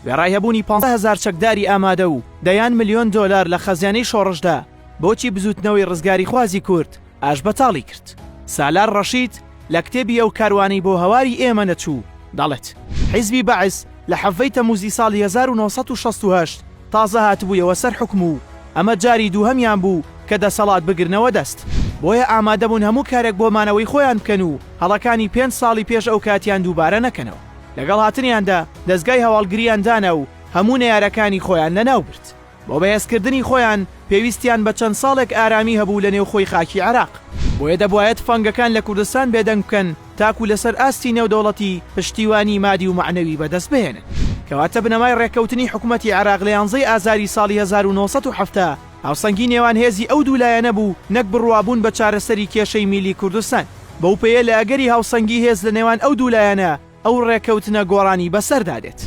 وێڕای هەبوونی پانزە هەزار چەکداری ئامادە و دەیان ملیۆن دۆلار لە خەزێنەی شۆڕشدا، بۆچی بزووتنەوەی ڕزگاریخوازی کورد ئاشبەتاڵی کرد؟ سالار ڕەشید لە کتێبی ئەو کاروانەی بۆ هەواری ئێمە نەچوو دەڵێت، حیزبی بەعس لە حەڤەی تەمووزی ساڵی هەزار و نۆ سەد و شەست و هەشت تازە هاتبوویەوە سەر حوکم و ئەمە جاری دووهەمیان بوو کە دەسەڵات بگرنەوە دەست، بۆیە ئامادەبوون هەموو کارێک بۆ مانەوەی خۆیان بکەن و هەڵەکانی پێنج ساڵی پێش ئەوکاتیان دووبارە نەکەنەوە. لەگەڵ هاتنیاندا دەزگای هەواڵگرییان دانا و هەموو نەیارەکانی خۆیان لەناو برد. بۆ بەهێزکردنی خۆیان پێویستیان بە چەند ساڵێک ئارامی هەبوو لە نێوخۆی خاکی عێراق. بۆیە دەبوایە تفەنگەکان لە کوردستان بێدەنگ بکەن تاکوو لەسەر ئاستی نێودەوڵەتی پشتیوانی مادی و مەعنەوی بەدەست بهێنن. کەواتە بنەمای ڕێککەوتنی حکومەتی عێراق لە یانزەی ئازاری ساڵی هەزار و نۆ سەد و حەفتا، هاوسەنگی نێوان هێزی ئەو دوو لایەنە بوو نەک بڕوابوون بە چارەسەری کێشەی میلی کوردستان. بەو پێیە لە ئەگەری هاوسەنگی هێز لە نێوان ئەو دوو لایەنە، ئەو ڕێککەوتنە گۆڕانی بەسەردا دێت.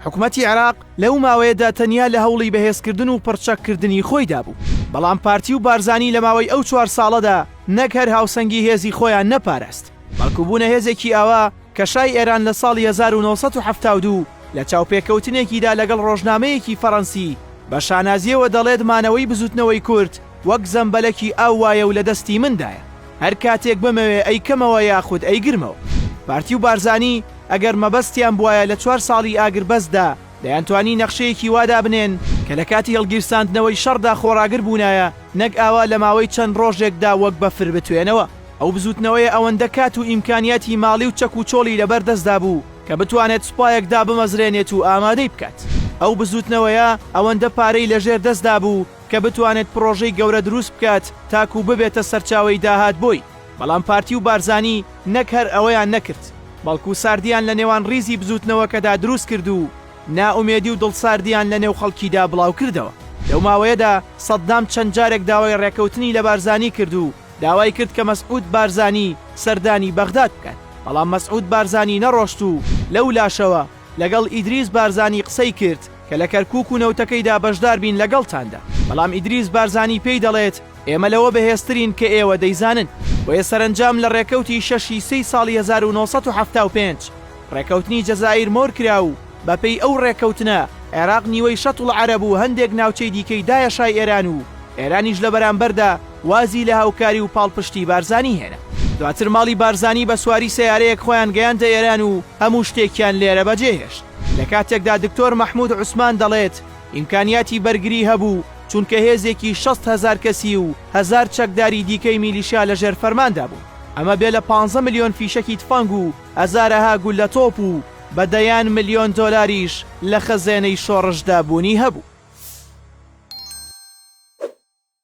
حکومەتی عێراق لەو ماوەیەدا تەنیا لە هەوڵی بەهێزکردن و پڕچەک کردنی خۆیدا بوو. بەڵام پارتی و بارزانی لە ماوەی ئەو چوار ساڵەدا نەک هەر هاوسەنگی هێزی خۆیان نەپاراست، بەڵکو بوونە هێزێکی ئاوا، کە شای ئێران لە ساڵی هەزار و نۆ سەد و حەفتا و دوو لە چاوپێکەوتنێکیدا لەگەڵ ڕۆژنامەیەکی فەڕەنسی بە شانازییەوە دەڵێت مانەوەی بزووتنەوەی کورد وەک زەمبەلەکی ئاو وایە و لە دەستی مندایە هەر کاتێک بمەوێ ئەیکەمەوە یاخود ئەیگرمەوە. پارتی و بارزانی ئەگەر مەبەستیان بوایە لە چوار ساڵی ئاگربەستدا دەیانتوانی نەخشەیەکی وا دابنێن، کە لە کاتی هەڵگیرساندنەوەی شەڕدا خۆڕاگر بوونایە، نەک ئاوا لە ماوەی چەند ڕۆژێکدا وەک بەفر بتوێنەوە. ئەو بزووتنەوەیە ئەوەندە کات و ئیمکانیاتی ماڵی و چەک و چۆڵی لەبەر دەستدا بوو کە بتوانێت سوپایەک دابمەزرێنێت و ئامادەی بکات. ئەو بزووتنەوەیە ئەوەندە پارەی لەژێر دەستدا بوو کە بتوانێت پڕۆژەی گەورە دروست بکات تاکوو ببێتە سەرچاوەی داهات بۆی، بەڵام پارتی و بارزانی نەک هەر ئەوەیان نەکرد، بەڵکوو ساردیان لە نێوان ڕیزی بزووتنەوەکەدا دروست کرد و نائومێدی و دڵساردیان لە نێو خەڵکیدا بڵاو کردەوە. لەو ماوەیەدا سەددام چەند جارێک داوای ڕێکەوتنی لە بارزانی کرد و داوای کرد کە مەسعود بارزانی سەردانی بەغداد بکات، بەڵام مەسعود بارزانی نەڕۆشت و لەو لاشەوە لەگەڵ ئیدریس بارزانی قسەی کرد کە لە کەرکوک و نەوتەکەیدا بەشدار بین لەگەڵتاندا، بەڵام ئیدریس بارزانی پێی دەڵێت ئێمە لەوە بەهێزترین کە ئێوە دەیزانن. بۆیە سەرەنجام لە ڕێکەوتی شەش ی سێی ساڵی هەزار و نۆ سەد و حەفتا و پێنج ڕێکەوتنی جەزائیر مۆر کرا و بە پێی ئەو ڕێکەوتنە عێراق نیوەی شەتڵ عەرەب و هەندێک ناوچەی دیکەی دایە شای ئێران و ئێرانیش لە بەرامبەردا وازی لە هاوکاری و پاڵپشتی بارزانی هێنا. دواتر ماڵی بارزانی بە سواری سەیارەیەک خۆیان گەیاندە ئێران و هەموو شتێکیان لێرە بەجێهێشت. لە کاتێکدا دکتۆر مەحمود عوسمان دەڵێت، ئیمکانیاتی بەرگری هەبوو، چونکە هێزێکی شەست هەزار کەسی و هەزار چەکداری دیکەی میلیشیا لە ژێر فەرماندا بوون. ئەمە بێ لە پانزە ملیۆن فیشەکی تفەنگ و هەزارەها گوللە تۆپ و بە دەیان ملیۆن دۆلاریش لە خەزێنەی شۆڕشدا بوونی هەبوو.